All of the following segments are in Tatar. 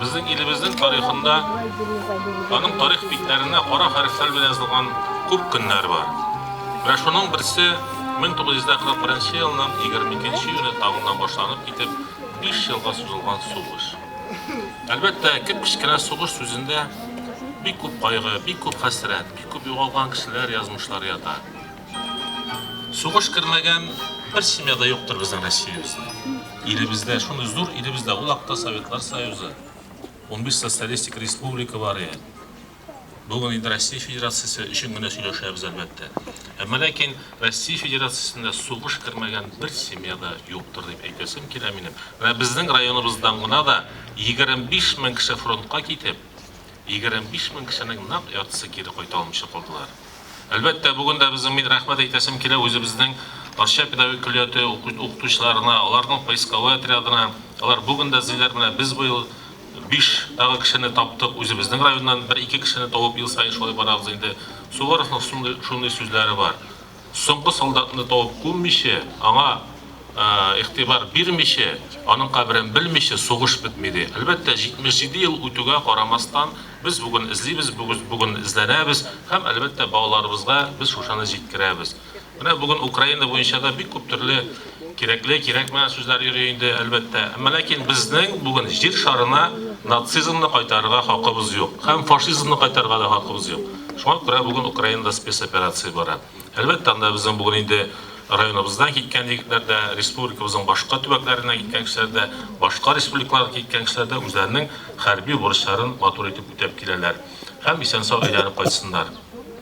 Безнең илебезнең тарихында аның тарих битләренә кара хәрефләр белән язылган күп көннәр бар. Менә шуның берсе 1941 елның 22 июне таңына башланып китеп, 5 елга сузылган сугыш. Әлбәттә, кеп-кечкенә сугыш сүзендә бик күп кайгы, бик күп хәсрәт, бик күп югалган кешеләр, язмышлар ята. Сугыш кермәгән бер семья да юктыр безнең Россиябездә. Илебездә, шундый зур илебездә, ул акта Советлар Союзы, унбиш социалистик республика бар иде. Бүген инде Россия Федерациясе өчен генә сөйләшәбез, әлбәттә. Әмма ләкин Россия Федерациясендә сугыш кермәгән бер семья да юктыр дип әйтәсем килә минем. Менә безнең районыбыздан гына да 25 мең кеше фронтка китеп, Егерме биш мең кешенең нәкъ яртысы кире кайта алмыйча калдылар. Әлбәттә, бүген дә безнең мин рәхмәт әйтәсем килә үзебезнең Арча педагогик көллияте укытучыларына, аларның поисковой отрядына. Алар бүген дә эзлиләр, менә без быел биш тагы кешене таптык, үзебезнең районнан бер-ике кешене табып ел саен шулай барабыз инде. Суворовның шундый шундый сүзләре бар. Соңгы солдатны табып күммичә, аңа игътибар бирмичә, аның каберен белмичә сугыш бетми, ди. Әлбәттә, 77 ел үтүгә карамастан, без бүген эзлибез, бүген эзләнәбез һәм, әлбәттә, балаларыбызга без шушыны җиткерәбез. Менә бүген Украина буенча да бик күп төрле Кирәкле, кирәкмә сүзләр йөри инде, әлбәттә. Әмма ләкин безнең бүген Җир шарына нацизмны кайтарырга хакыбыз юк. Һәм фашизмны кайтарырга да хакыбыз юк. Шуңа күрә бүген Украинада спецоперация бара. Әлбәттә, анда безнең бүген инде районыбыздан киткән егетләр дә, республикабызның башка төбәкләреннән киткән кешеләр дә, башка республикалардан киткән кешеләр дә үзләренең хәрби бурычларын матур итеп үтәп киләләр. Һәм исән-сау әйләнеп кайтсыннар.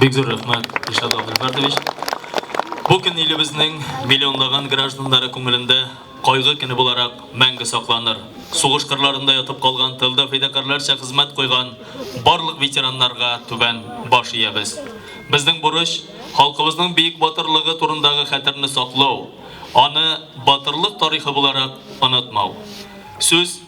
Бик зур рәхмәт, Илшат Габделфәрдович. Бу көн илебезнең миллионлаган гражданнары күңелендә кайгы көне буларак мәңге сакланыр. Сугыш кырларында ятып калган тылда фидакарьләрчә хезмәт куйган барлык ветераннарга түбән баш иябез. Безнең бурыч, халкыбызның биек батырлыгы турындагы хәтерне саклау, аны батырлык тарихы буларак онытмау. Сүз